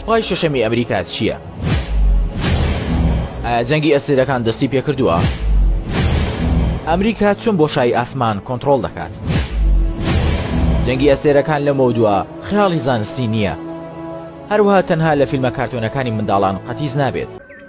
سوپای شەشەمی ئەمریکا چییە؟ ئایا جەنگی ئەستێرەکان دەستی پێکردووە؟ ئەمریکا چون بۆ شای ئاسمان کۆنتترۆل دەکات. جەنگی ئەستێرەکان لە مەودووە خیاڵی زانستی نییە. هەروها تەنها لە فیلمە کارتۆنەکانی منداڵان قەتیس نابێت.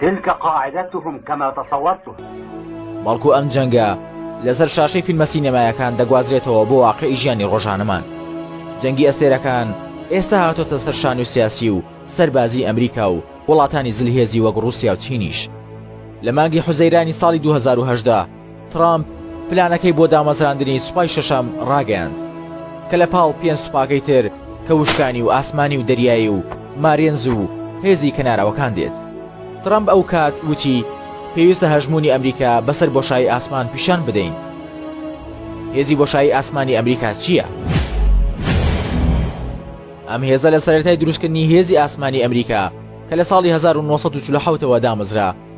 تلک قاعدتهم کما تصورتها. بەڵکو ئەم جەنگە لەسەر شاشەی فیلمە سینەمایەکان دەگوازرێتەوە بۆ واقیعی ژیانی ڕۆژانەمان. جەنگی ئەستێرەکان ئێستا هاتۆتە سەر شانوی سیاسی و سەربازی ئەمریکا و وڵاتانی زلهێزی وەک ڕوسیا و چینیش. لە مانگی حوزەیرانی ساڵی دوو هەزار و هەژدە، ترامپ پلانەکەی بۆ دامەزراندنی سوپای شەشەم ڕاگەیاند، کە لە پاڵ پێنج سوپاکەی تر کە وشکانی و ئاسمانی و دەریایی و مارێنز و هێزی کەناراوەکان دێت. ترامپ ئەو کات وتی، پێویستە هەژموونی ئەمریکا بەسەر بۆشایی ئاسمان پیشان بدەین. هێزی بۆشایی ئاسمانی ئەمریکا چییە؟ ئەم هێزە لە سەرەتای دروستکردنی هێزی ئاسمانی ئەمریکا کە لە ساڵی هەزار و نۆ سەد و چل و حەوت ەوە دامەزرا،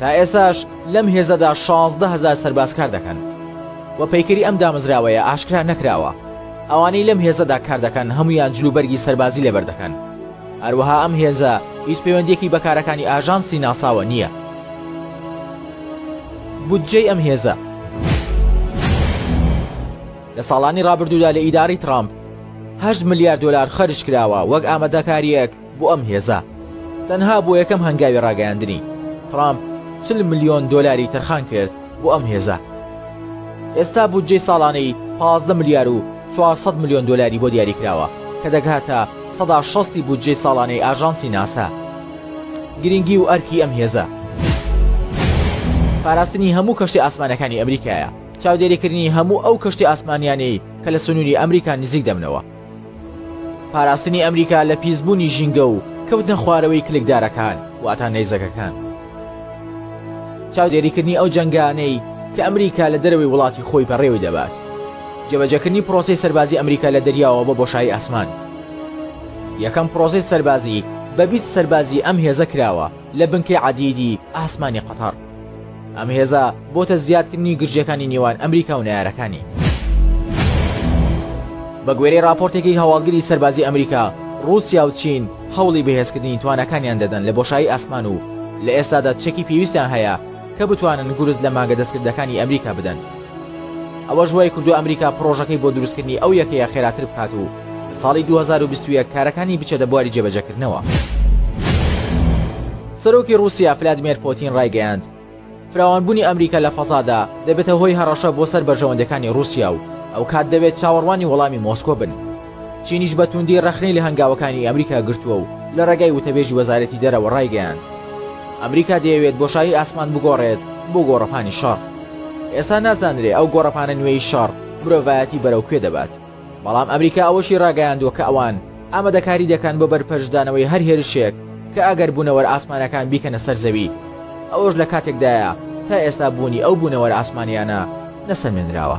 تا ئێستاش لەم هێزەدا شازدە هەزار سەرباز کار دەکەن و پەیکەری ئەم دامەزراوەیە ئاشکرا نەکراوە، ئەوانەی لەم هێزەدا کار دەکەن هەموویان جلوبەرگی سەربازی لەبەر دەکەن، هەروەها ئەم هێزە هیچ پەیوەندییەکی بە کارەکانی ئاژانسی ناساوە نییە. بودجەی ئەم هێزە لە ساڵانی ڕابردوودا لە ئیدارەی ترامپ هەشت ملیار دۆلار خەرج کراوە وەک ئامادەکارییەک، بۆ ئەم هێزە تەنها بۆ یەکەم هەنگاوی ڕاگەیاندنی ترامپ چل ملیۆن دۆلاری تەرخان کرد بۆ ئەم هێزە ئێستا بودجەی ساڵانەی پازدە ملیار و چوار سەد ملیۆن دۆلاری بۆ دیاری کراوە کە دەگهاتە سەدا شەست ی بودجەی ساڵانەی ئاژانسی ناسا گرینگی و ئەرکی ئەم هێزە پاراستنی هەموو کەشتی ئاسمانەکانی ئەمریکایە چاودێریکردنی هەموو ئەو کەشتی ئاسمانیانەی کە لە سنووری ئەمریکا نزیک دەبنەوە پاراستنی ئەمریکا لە پیسبوونی ژینگە و کەوتنە خوارەوەی کلکدارەکان واتە نەیزەکەکان. چاودێریکردنی ئەو جەنگانەی کە ئەمریکا لە دەرەوەی وڵاتی خۆی بەڕێوەی دەبات. جێبەجێکردنی پرۆسەی سەربازی ئەمریکا لە دەریاوە بۆ بۆشایی ئاسمان. یەکەم پرۆسەی سەربازی بە بیست سەربازی ئەم هێزە کراوە لە بنکەی عەدیدی ئاسمانی قەتەڕ. ئەم هێزە بۆتە زیادکردنی گرژیەکانی نێوان ئەمریکا و نەیارەکانی. بە گوێرەی ڕاپۆرتێکی هەواڵگری سەربازی ئەمریکا، ڕووسیا و چین هەوڵی بەهێزکردنی تواناکانیان دەدەن لە بۆشایی ئاسمان و لە ئێستادا چەکی پێویستیان هەیە کە بتوانن گورز لە مانگە دەستکردەکانی ئەمریکا بدەن. ئەوەش وای کردووە ئەمریکا پڕۆژەکەی بۆ دروستکردنی ئەو یەکەیە خێراتر بکات و لە ساڵی دوو هەزار و بیست و یەک کارەکانی بچێتە بواری جێبەجێکردنەوە. سەرۆکی ڕووسیا فلادمێر پۆتین ڕایگەیاند، فراوانبوونی ئەمریکا لە فەزادا دەبێتە هۆی هەڕەشە بۆ سەر بەرژەوەندییەکانی ڕووسیا و ئەوکات دەبێت چاوەڕوانی وەڵامی مۆسکۆ بن. چینیش بە تووندی ڕەخنەی لە هەنگاوەکانی ئەمریکا گرتووە و لە ڕێگای وتەبێژی وەزارەتی دەرەوە ڕایگەیاند، ئەمریکا دەیەوێت بۆشایی ئاسمان بگۆڕێت بۆ گۆڕەپانی شەڕ. ئێستا نازانرێ ئەو گۆڕەپانە نوێی شەڕ مرۆڤایەتی بەرەو کوێ دەبات. بەڵام ئەمریکا ئەوەشی ڕاگەیاندووە کە ئەوان ئامادەکاری دەکەن بۆ بەرپەرچدانەوەی هەر هێرشێک کە ئەگەر بوونەوەرە ئاسمانیەکان بیکەنە سەر زەوی، ئەوەش لە کاتێکدایە تا ئێستا بوونی ئەو بوونەوەرە ئاسمانیانە نەسەلمێنراوە.